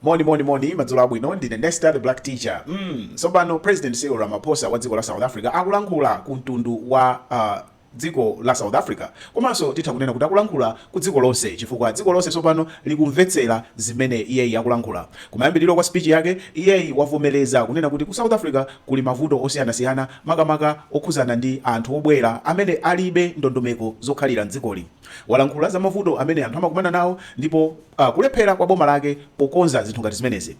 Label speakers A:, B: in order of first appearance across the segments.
A: Moni moni moni madzulo abwino ndine Nesta the black teacher mm sopano president Cyril Ramaphosa wa dziko la South Africa akulankhula ku mtundu wa uh, dziko la South Africa komanso titha kunena kuti akulankhula ku dziko lonse chifukwa dziko lonse sopano likumvetsera zimene iyeyi akulankhula kumayambiriro kwa speech yake iyeyi wavomereza kunena kuti ku South Africa kuli mavuto osiyanasiyana makamaka okhuzana ndi anthu obwera amene alibe ndondomeko zokhalira mdzikoli walankhula za mavuto amene anthu amakumana nawo ndipo uh, kulephera kwa boma lake pokonza zinthu ngati zimenezi.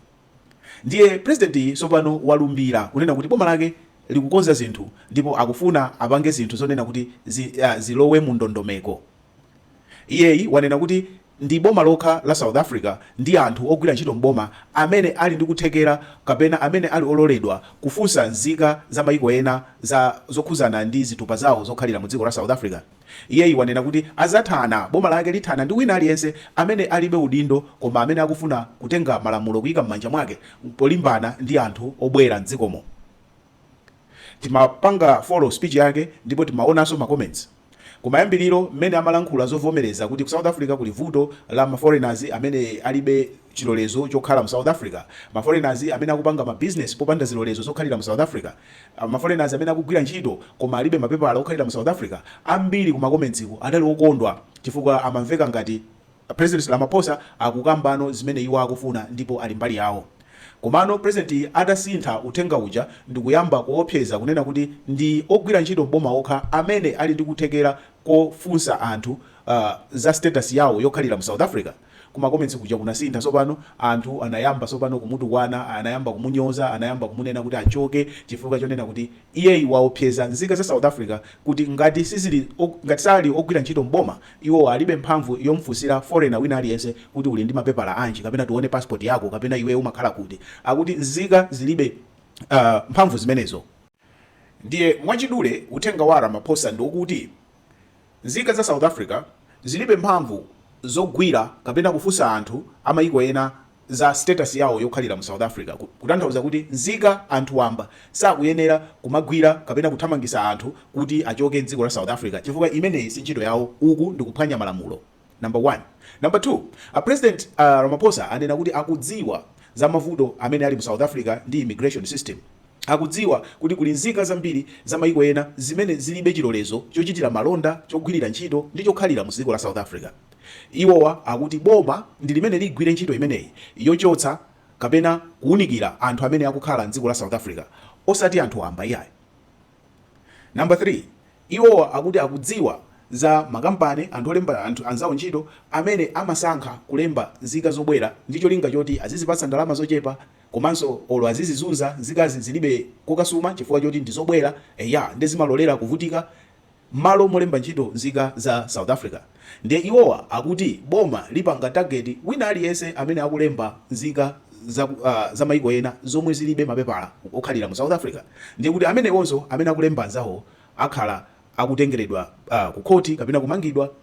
A: Ndiye president tsopano walumbira kunena kuti boma lake likukonza zinthu ndipo akufuna apange zinthu zonena kuti zi, uh, zilowe mu ndondomeko. Iyeyi wanena kuti ndi boma lokha la South Africa ndi anthu ogwira ntchito m'boma amene ali ndi kuthekera kapena amene ali ololedwa kufunsa nzika za mayiko ena zokhuzana ndi zitupa zawo zokhalira mu dziko la South Africa. Iyeyi wanena kuti azathana boma lake lithana ndi wina aliyense amene alibe udindo koma amene akufuna kutenga malamulo kuika mmanja mwake polimbana ndi anthu obwera mdzikomo. Timapanga follow speech yake ndipo timaonanso ma comments kumayambiliro mmene amalankhula zovomereza kuti ku South Africa kuli vuto la ma foreigners amene alibe chilolezo chokhala mu south africa, ma foreigners amene akupanga ma business popanda zilolezo zokhalira mu south africa, ma foreigners amene akugwira ntchito koma alibe mapepala okhalira mu south africa, ambiri ku ma comments adali okondwa chifukwa amamveka ngati president Ramaphosa akukambano zimene iwo akufuna ndipo ali mbali yawo. Komano president atasintha uthenga uja ndikuyamba kuopseza kunena kuti ndi ogwira ntchito m'boma okha amene ali ndi kuthekera kofunsa anthu za status yawo yokhalira mu south africa, Ku ma comments kuja kunasintha sopano, anthu anayamba sopano kumutukwana, anayamba kumunyoza, anayamba kumunena kuti achoke chifukwa chonena kuti iyeyi waopseza nzika za South Africa kuti ngati sizili ok, ngati sali ogwira ntchito m'boma, iwowa alibe mphamvu yomfunsira foreigner wina aliyense kuti uli ndi mapepala anji kapena tione passport yako kapena iweyo umakhala kuti. Akuti nzika zilibe mphamvu zimenezo. Ndiye mwachidule uthenga wa Ramaphosa ndi wokuti nzika za South Africa zilibe mphamvu zogwira kapena kufunsa anthu a mayiko ena za status yawo yokhalira mu South Africa, kutanthauza kuti nzika, anthu wamba, sakuyenera kumagwira kapena kuthamangisa anthu kuti achoke m'dziko la South Africa chifukwa imeneyi sintchito yawo, uku ndikuphwanya malamulo. number 1 number 2 a president Ramaphosa anena kuti akudziwa za mavuto amene ali mu south Africa ndi immigration system akudziwa kuti kuli nzika zambiri za maiko ena zimene zilibe chilolezo chochitira malonda chogwirira ntchito ndi chokhalira mu dziko la south Africa iwowa akuti boma ndi limene ligwire ntchito imeneyi yochotsa kapena kuunikira anthu amene akukhala m'dziko la south Africa osati anthu wamba iyayi. Number 3, iwowa akuti akudziwa za makampani, anthu olemba anthu anzawo ntchito, amene amasankha kulemba nzika zobwera ndi cholinga choti azizipatsa ndalama zochepa komanso olo azizizunza, nzikazi zilibe kokasuma chifukwa choti ndi zobwera, eya nde zimalolera kuvutika mmalo molemba ntchito nzika za South Africa. Ndiye iwowa akuti boma lipanga target wina aliyense amene akulemba nzika za za maiko ena zomwe zilibe mapepala okhalira mu South Africa ndiye kuti amenewonso amene akulemba anzawowo akhala akutengeredwa ku khoti kapena kumangidwa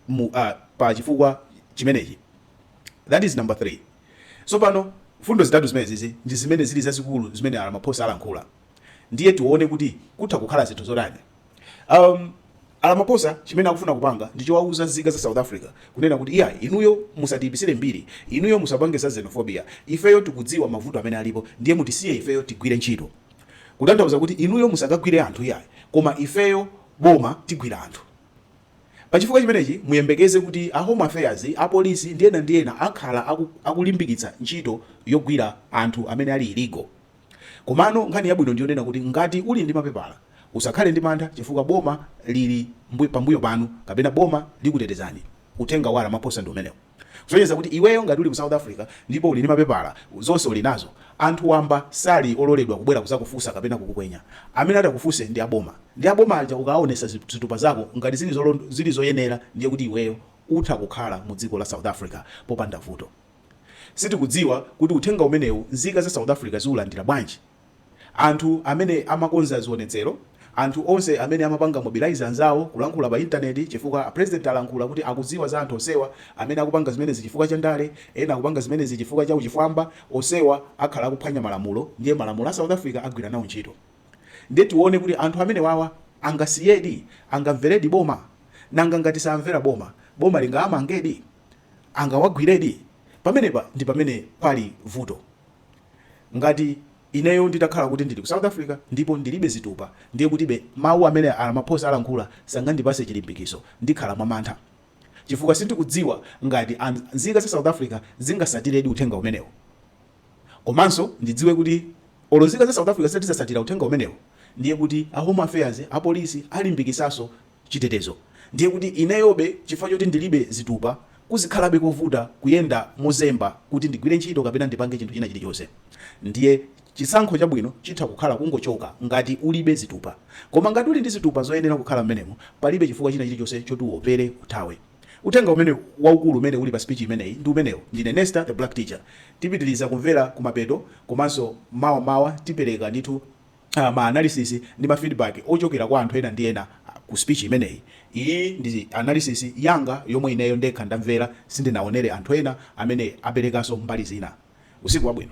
A: mu pa chifukwa chimenechi that is number 3 tsopano mfundo zitatu zimenezizi ndi zimene zili zazikulu zimene a Ramaphosa alankhula ndiye tione kuti kutha kukhala zinthu zotani Um, Aramaphosa chimene akufuna kupanga ndi chowauza nzika za South Africa kunena kuti iya inuyo musatiipisire mbiri, inuyo musapange za xenophobia, ifeyo tikudziwa mavuto amene alipo ndiye mutisiye ifeyo tigwire ntchito. Kutanthauza kuti inuyo musakagwire anthu iya koma ifeyo boma tigwira anthu. Pachifukwa chimenechi muyembekeze kuti a Home Affairs, apolisi ndi ena ndi ena akhala akulimbikitsa ntchito yogwira anthu amene ali illegal. Komano nkhani yabwino ndi yonena kuti ngati uli ndi mapepala, usakhale ndi mantha chifukwa boma lili mbuyo pambuyo panu kapena boma likutetezani. Uthenga wa Ramaphosa ndi umenewo. Kusonyeza kuti iweyo ngati uli mu South Africa ndipo uli ndi mapepala, zonse uli nazo, anthu wamba sali ololedwa kubwera kuzakufunsa kapena kukukwenya. Amene atakufunse ndi a boma. Ndi a boma aja ukawaonetsa zitupa zako ngati zili zili zoyenera ndiye kuti iweyo utha kukhala mu dziko la South Africa popanda vuto. Sitikudziwa kuti uthenga umenewu nzika za South Africa ziulandira bwanji. Anthu amene amakonza zionetsero, anthu onse amene amapanga mobilize anzawo, kulankhula pa intaneti chifukwa a president alankhula kuti akudziwa za anthu onsewa amene akupanga zimenezi chifukwa cha ndale, ena akupanga zimenezi chifukwa cha uchifwamba, onsewa akhala akuphwanya malamulo ndiye malamulo a South Africa agwira nawo ntchito. Ndiye tione kuti anthu amenewawa angasiyedi, angamveredi boma? Nanga ngati samvera boma, boma lingaamangedi? angawagwiredi? Pamenepa ndi pamene pali vuto. Ngati ineyo nditakhala kuti ndili ku South Africa ndipo ndilibe zitupa ndiye kutibe mawu amene a Ramaphosa alankhula sangandipase chilimbikiso. Ndikhala mwa mantha chifukwa sindikudziwa ngati a nzika za South Africa zingasatiredi uthenga umenewo. Komanso ndidziwe kuti olo nzika za South Africa zitati zasatira uthenga umenewo ndiye kuti a Home Affairs, apolisi alimbikisanso. chitetezo ndiye kuti ineyobe chifukwa choti ndilibe zitupa kuzikhalabe kovuta kuyenda mozemba kuti ndigwire ntchito kapena ndipange chinthu china chilichonse ndiye chisankho chabwino chitha kukhala kungochoka ngati ulibe zitupa koma ngati uli ndi zitupa zoyenera kukhala mmenemo palibe chifukwa china chilichonse choti uwopere uthawe uthenga umene waukulu umene uli pa speech imeneyi ndi umenewo ndine Nesta the black teacher tipitiliza kumvera kumapeto komanso mawa mawa tipereka ndithu ma analysis ndi ma feedback ochokera kwa anthu ena ndi ena ku speech imeneyi. Iyi ndi analysis yanga yomwe ineyo ndekha ndamvera sindinaonere anthu ena amene aperekanso mbali zina. Usiku wabwino.